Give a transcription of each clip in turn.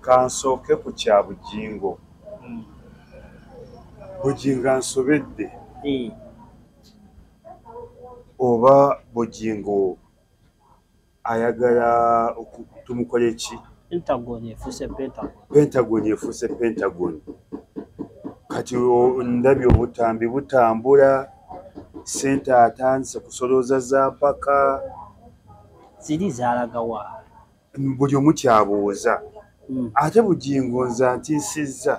Kansooke ku kya Bugingo. Hmm. Bugingo ansobedde. Hmm. Oba Bugingo ayagala tumukole ki? Pentagon efuuse Pentagon. Pentagon efuuse Pentagon. Kati ndabye obutambi butambula, ssente atandise kusolooza za mpaka. Ziri zaalaga wa? buli omu kyabuuza hmm. ate bugingo nze antiisizza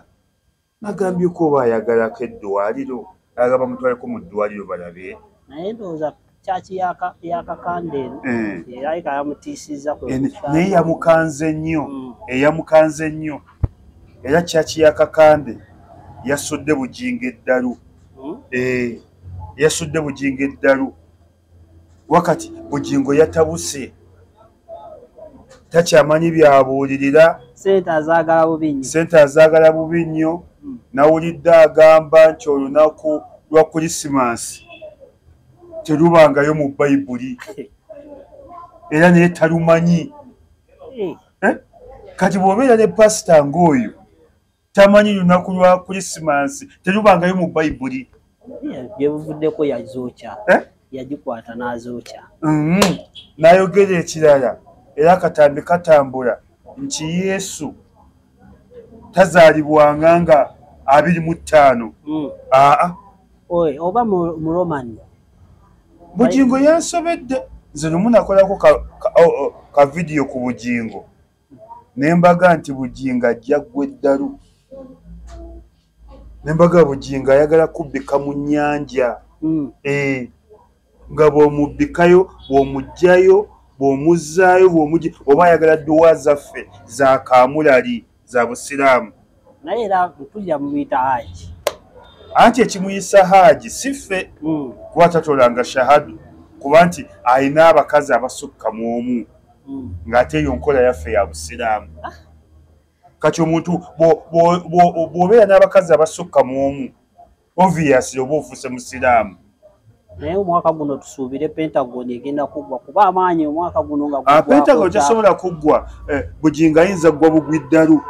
nagambyeko oba ayagalako eddwaliro aga bamutwaleko mu ddwaliro balabe naye ndowooza kyaki yakakandero eh. era ika yamutiisizza eh, naye yamukanze nnyo hmm. eyamukanze eh, nnyo era kyaki yakakande yasudde bugingo eddalu hmm? yasudde bugingo eddalu wakati bugingo yatabuse takyamanyi byabuulirira sente azaagala bubi nnyo hmm. nawulidde agamba nti olunaku lwa krisimansi terubangayo mu bayibuli era naye talumanyi hmm. eh? kati bwobeera ne pasita ngaoyo tamanyi lunaku lwa krisimansi terubangayo mu bayibuli gyebuvuddeko yazookya eh? yagikwata n'azookya mm-hmm. n'ayogera ekirala era akatambi katambula nti yesu tazaalibwanga nga abiri mu ttaano mm. aa oba mu roman bugingo yansobedde nze nomunakolako ka vidiyo ku bugingo nembaga nti bugingo ajja ggwa eddalu nembaga bugingo ayagala kubbika mu nnyanja hmm. eh, nga bwomubbikayo bwomugjayo bwomuzaayo bwomuj oba ayagala dduwa zaffe za kaamulali za busiraamu naye era mpulira mumuyita haji anti ekimuyisa haji si ffe hmm. kuba tatolanga shahadu kuba nti alina abakazi abasukka mu omu hmm. ng'ate eyo nkola yaffe ya busiraamu ah. kati omuntu bw'obeera n'abakazi abasukka mu omu obviously oba ofuse musiraamu naye omwaka guno tusuubire pentagon egenda kuggwa kuba amaanyi omwaka guno nga ah, pentagon tesobola kuggwa eh, bugingo ayinza ggwa bugwi ddalu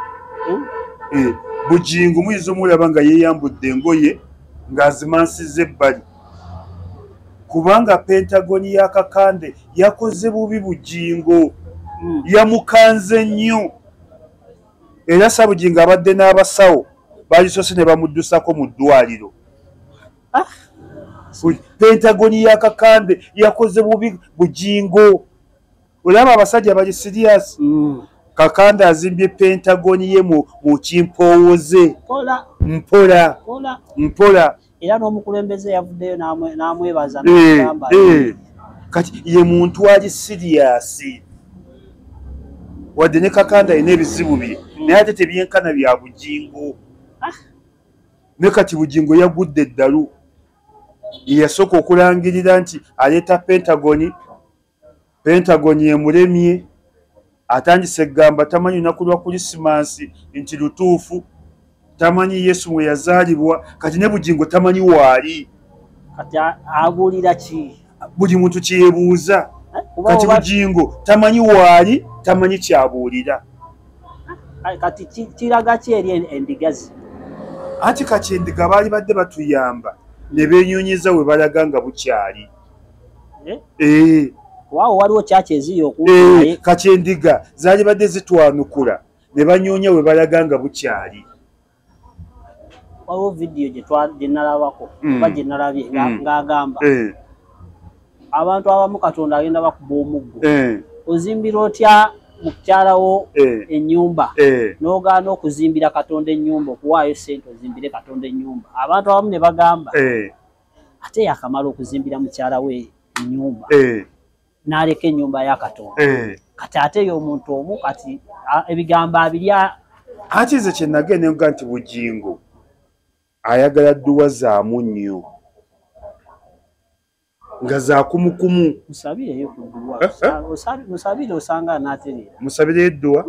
hmm? eh, bugingo muyinza omulaba nga yeeyambudde engoye ng'azimansiza ebbali kubanga pentagon ya kakande yakoze bubi bugingo hmm. yamukanze nnyo era Sabugingo abadde n'abasawo baalisoose ne bamuddusako mu ddwaliro ah, pentagoni ya kakande yakoze bubi bugingo olaba abasajja bali sirias mm. kakande azimbye pentagoni ye mu kimpoowoze mpola mpola era n'omukulembeze yavuddeyo n'amwebaza nagamba eh, eh. kati ye muntu ali siriyasi wadde ne kakanda yina ebizibu bye hmm. naye ate tebyenkana bya bujingo ah. ne kati bujingo yagudde eddalu yeyasooka okulangirira nti aleeta pentagoni Pentagon emulemye atandise egamba tamanyi lunaku lwa kulisimansi nti lutuufu tamanyi yesu mwe yazaalibwa kati ne bugingo tamanyi waali kati abuulira ki buli muntu kyebuuza eh, kati bugingo tamanyi waali tamanyi kyabuulira eh, kati kiraga ki eri endigazi anti kati endiga baali badde batuyamba ne benyonyeza we balaga nga bukyali eh waawo waliwo kyaki eziyo okuwulira kati endiga zaali badde zitwanukula ne banyoonya we balaga nga bukyali waliwo vidiyo gye nalabako hmm. oba gye nalabye hmm. ng'agamba eh. abantu abamu katonda agenda bakuba omuggo eh. ozimbira otya mukukyalawo eh. enyumba n'ogaana okuzimbira katonda enyumba okuwaayo sente ozimbire katonda enyumba abantu abamu ne bagamba ate yakamala okuzimbira mukyala we enyumba eh. naleka enyumba ya katonda eh. kati ate yomuntu omu kati ebigambo abiri ati nze kyenagenda nkuga nti bugingo ayagala dduwa zaamu nnyo nga zakumukumu musabireyo edduwa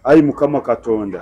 ayi mukama katonda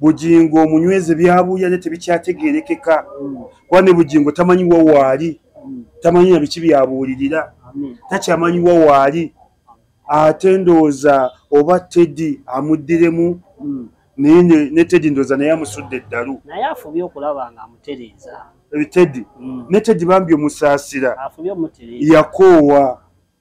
bugingo omunyweze byabuya ne tebikyategerekeka kuba ne bugingo tamanyiwa waali tamanyi na biki byabuulirira takyamanyiwa waali ate ndowooza oba teddy amuddiremu hmm. naye ne teddy ndowooza naye amusudde eddalu naye afubye okulaba nga amutereeza eh, teddy hmm. ne teddy bambi omusaasira yakoowa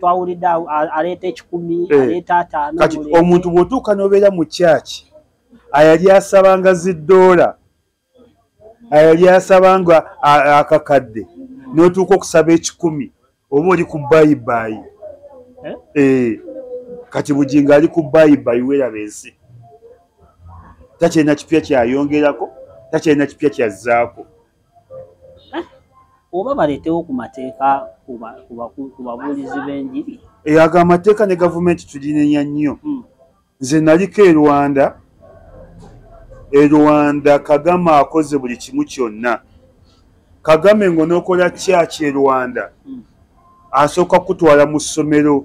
twawulidde aleeta ekikumi eh. aleeta ataano kati omuntu bwotuuka nobeera mu kyaki ayali asabanga ziddoola ayali asabanga akakadde notuuka okusaba ekikumi oba oli ku bayibayi eh? eh. kati bugingo ali ku bayibayi weraba ensi takyalina kipya kyayongerako takyalina kipya kyazzaako oba baleetewo ku mateeka ku babuulizi b'enjiri eyo ago amateeka ne gavumenti tulinenya nnyo hmm. nze naliko e rwanda e rwanda kagame akoze buli kimu kyonna kagame ng'onookola kyaki e rwanda hmm. asooka kukutwala mu ssomero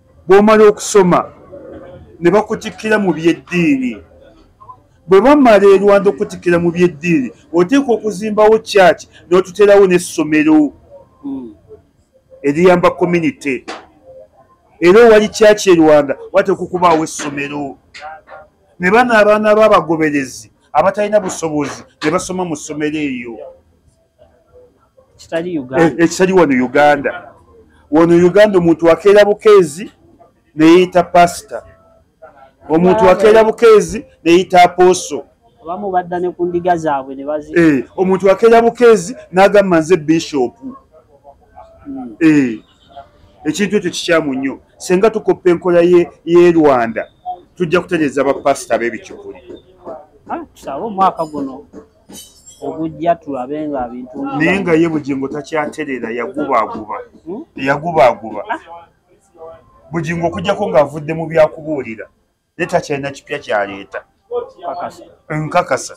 bw'omala okusoma ne bakutikkira mu by'eddiini bwe bamala e rwanda okutikkira mu by'eddiini oteeka okuzimbawo kyaki n'otuterawo n'essomero hmm. eriyamba community era owali kyaki e rwanda wateeka okubaawo essomero ne bano abaana b'abagoberezi abatalina busobozi ne basoma mu ssomero eyo ekitali wano uganda wano uganda omuntu akeera bukeezi neyita pasita omuntu akeera bukeezi neyita apooso abamu badda ne ku ndiga zaabwe ne bazi eh, omuntu akeera bukeezi n'agamba nze bishopu hmm. eh, ekintu ekyo kikyamu nnyo senga tukoppa enkola ye rwanda tujja kutereeza bapasita b'ebikyukuli ah, tusabe omwaka guno ogujja tulabe nga bintu naye nga ye bugingo takyaterera yagubaaguba hmm? yagubaaguba ah. bugingo okujjako ng'avudde mu byakubuulira naye takyalina kipya kyaleeta nkakasa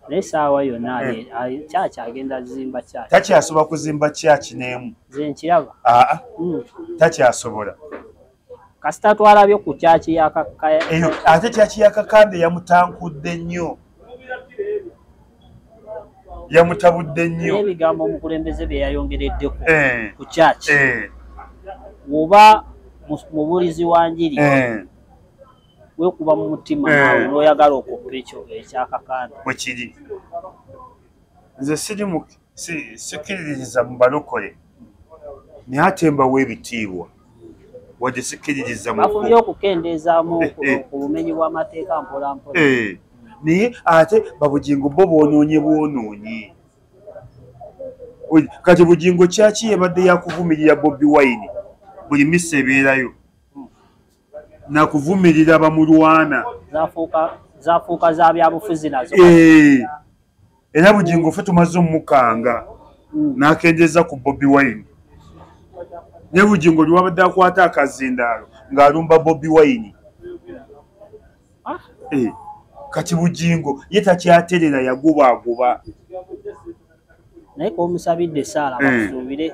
naye saawa yonna eh. kyaki agenda zimba kyaki takyasobola kuzimba kyaki n'emu zenkiraba aa ah, ah. hmm. takyasobola kasita twalabye ku kyaki yakakaya eyo ate kyaki yakakande yamutankudde nnyo yamutabudde nnyo ebigambo omukulembeze bye yayongereddeko eh. ku kyaki eh. oba mubulizi wa njiri eh. wekuba mu mutima nawe noyagala okuppa ekyo ekyakakande wekiri nze siri sikkiririza mu balokole naye ate mbawo ebitiibwa wadde sikkiririza mufunye okukendeezaamu eh, eh. ku bumenyi bw'amateeka mpolampola eh, naye ate babugingo bo boonoonye bwonoonyi kati bugingo kyaki yebadde yakuvumirira bobi wine buli misa ebeerayo nakuvumirira bamulwana zafuuka za byabufuzi nazo eh, era bugingo fe tumaze omukanga hmm. nakendeza ku bobi wine ne bugingo liwabadde akwata akazindaalo ng'alumba bobi wine ah. eh, kati bugingo ye takyaterera yagubaaguba naye komusabidde esaala eh. basuubire